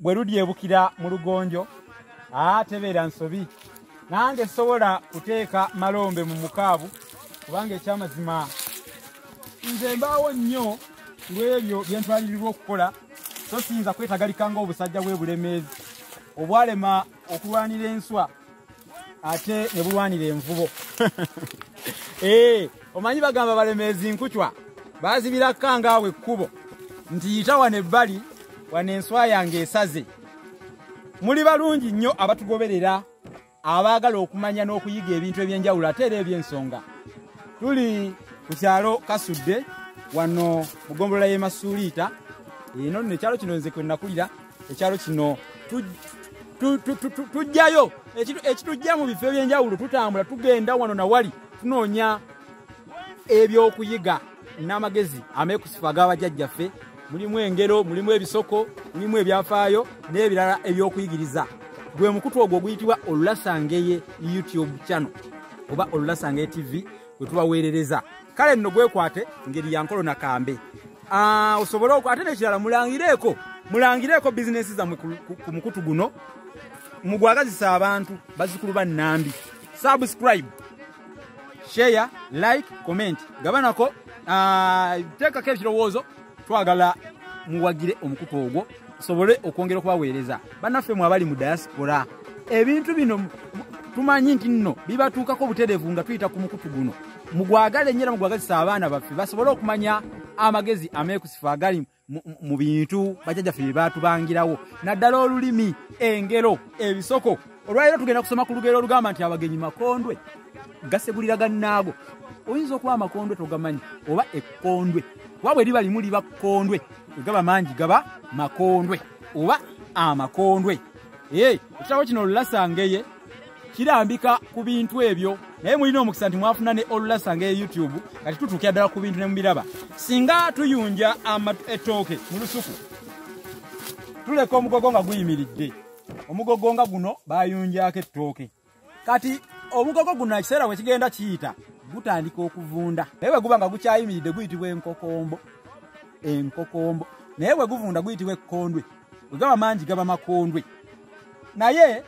bwe ludyebukira mu lugonjo aa tebeera nsobi nange sobola kuteeka malombe mu mukaabu kubanga ekyamazima nze mbaawo nnyo lw'ebyo bye ntwalirirwa okukola so siyinza kwetagalika ng'obusajja bw'ebulemeezi obwalema okulwanira enswa ate ne bulwanira envubo eh, omanyi bagamba balemeezi nkucwa bazibira kangaawo ekkubo nti yita wano ebbali wano enswa yange esaze muli balungi nnyo abatugoberera abaagala okumanya n'okuyiga ebintu eby'enjawulo ate era eby'ensonga tuli ku kyalo kasudde wano mu gombolola y'emasuuliita eno nno ekyalo kino nze kwe nakulira ekyalo kino tujjayo ekitujja mu bifo ebyenjawulo tutambula tugenda wano nawali tunoonya ebyokuyiga n'amagezi amekusifu ag'abajajjaffe mulimu engero mulimu ebisoko mulimu ebyafaayo n'ebirala ebyokuyigiriza gwe mukutu ogwo oguyitibwa olulasangeye youtube channel oba olulasangeye tv we tubaweerereza kale nno gwekwate ngeri yankolo nakambe ah, osobole ok ate nekirala mulangireeko mulangireeko bizinesi zammwe ku mukutu guno mugwagazisa abantu bazikulu ba nnambi subscribe share like comment gabanako ah, teekako ekirowoozo twagala muwagire omukuka ogwo tusobole okwongera okubaweereza banaffe mwe abali mu diaspora ebintu bino tumanyi nti nno bibatuukako obutereevu nga tuyita ku mukutu guno mugwagale nyo era mugwagazisa abaana baffe basobole okumanya amagezi ameekusifu agali mu bintu bajajaffe bye baatubangirawo naddala olulimi engero ebisoko olwaleero tugenda kusoma ku lugero olugamba nti abagenyi makondwe gasegulira gannaago oyinza okuba amakondwe togamanyi oba ekkondwe kuba bwe liba limu liba kkondwe egaba mangi gaba makondwe oba amakondwe ee ekitabo kino olulasangeye kirambika ku bintu ebyo naye mulina omukisa nti mwafuna ne olulasangeye youtube kati tutuukira ddala ku bintu ne mubiraba singa tuyunja ettooke mu lusuku tuleka omugogo nga guyimiridde omugogo nga guno bayunjako ettooke kati omugogo guno ekiseera we kigenda kiyita gutandika okuvunda naye bwe guba nga gukyayimiridde guyitibwa enkokombo enkokombo naye bwe guvunda guyitibwa ekkondwe bwe gaba mangi gaba makondwe naye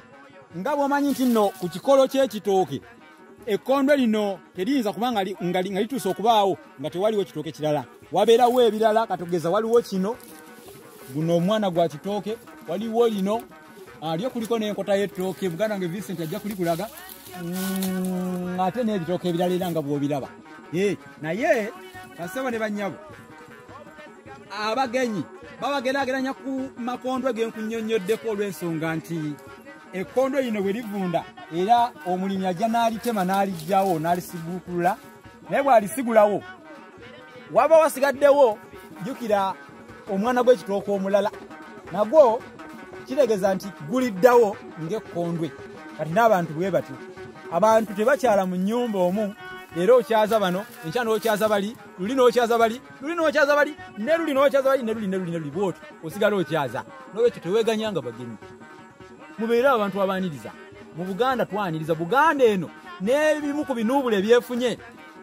nga bw'omanyi nti nno ku kikolo ky'ekitooke ekkondo lino teriyinza kuba nga lituuse okubaawo nga tewaliwo kitooke kirala wabeerawo ebirala katogeza waliwo kino guno omwana gwa kitooke waliwo lino alyo ah, kuliko n'enkota y'ettooke buganda nga vincent ajja kulikulaga mm, ate n'ebitooke ebirala era nga bw'obiraba eh, naye kasebo ne bannyabo abagenyi babageraageranya ku makondwe genkunyonyoddeko olw'ensonga nti ekkondo lino bwe livunda era omulimi ajja n'alitema n'alijjawo n'alisiguukulula naye bw'alisigulawo waba wasigaddewo jjukira omwana gw'ekitooka omulala nagwo kitegeeza nti guliddawo ng'ekkondwe kati n'abantu bwe batyo abantu tebakyala mu nnyumba omu era okyaza bano enkya n'okyaza bali luli n'okyaza bali luli n'okyaza bali ne luli n'okyaza bali ne luli ne luli ne luli bwotyo osigala okyaza n'olwekyo teweeganya nga bagenyi mubeere abantu abaaniriza mu buganda twaniriza buganda eno n'ebimu ku binuubula ebyefunye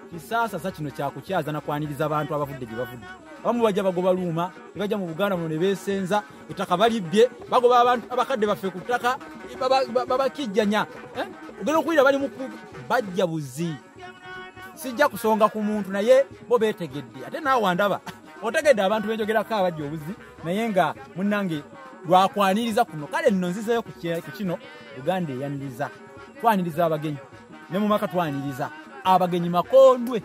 kisaasasa kino kyakukyaza nakwaniriza abantu abavudde gye bavudde abamu bajja bagoba luuma ne bajja mu buganda muno ne beesenza ettaka balibbye bagoba abantu abakadde baffe ku ttaka babakijjanya eh? ogenda okuwulira bali mu bajja buzi sijja kusonga ku muntu naye bo betegedde ate naawe andaba otegedde abantu benjogerako abajja obuzi naye nga munange lwakwaniriza kuno kale nno nzizeyo ku kino uganda eyaniriza twaniriza abagenyi ne mu maka twaniriza abagenyi makondwe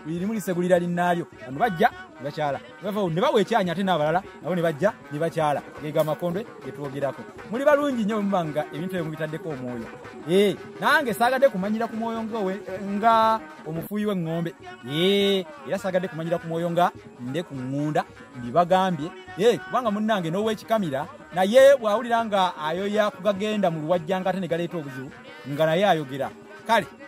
buli limu lisegulira linnaalyo bano bajja bakyala bavawo ne bawa ekyanya ate n'abalala nabo ne bajja ne bakyala geega amakondwe ge twogerako muli balungi nnyo bwe muba nga ebintu ebyo mubitaddeko omwoyo ee eh, nange saagadde kumanyira ku mwoyo ngaowe nga omufuuyi w'eŋŋombe ee eh, era saagadde kumanyira ku mwoyo nga nde ku ŋŋunda mbibagambye ee eh, kubanga munnange n'ow'ekikamira naye bw'awulira nga ayoya kugagenda mu luwajjanga ate ne galeeta obuzibu nga naye ayogera kale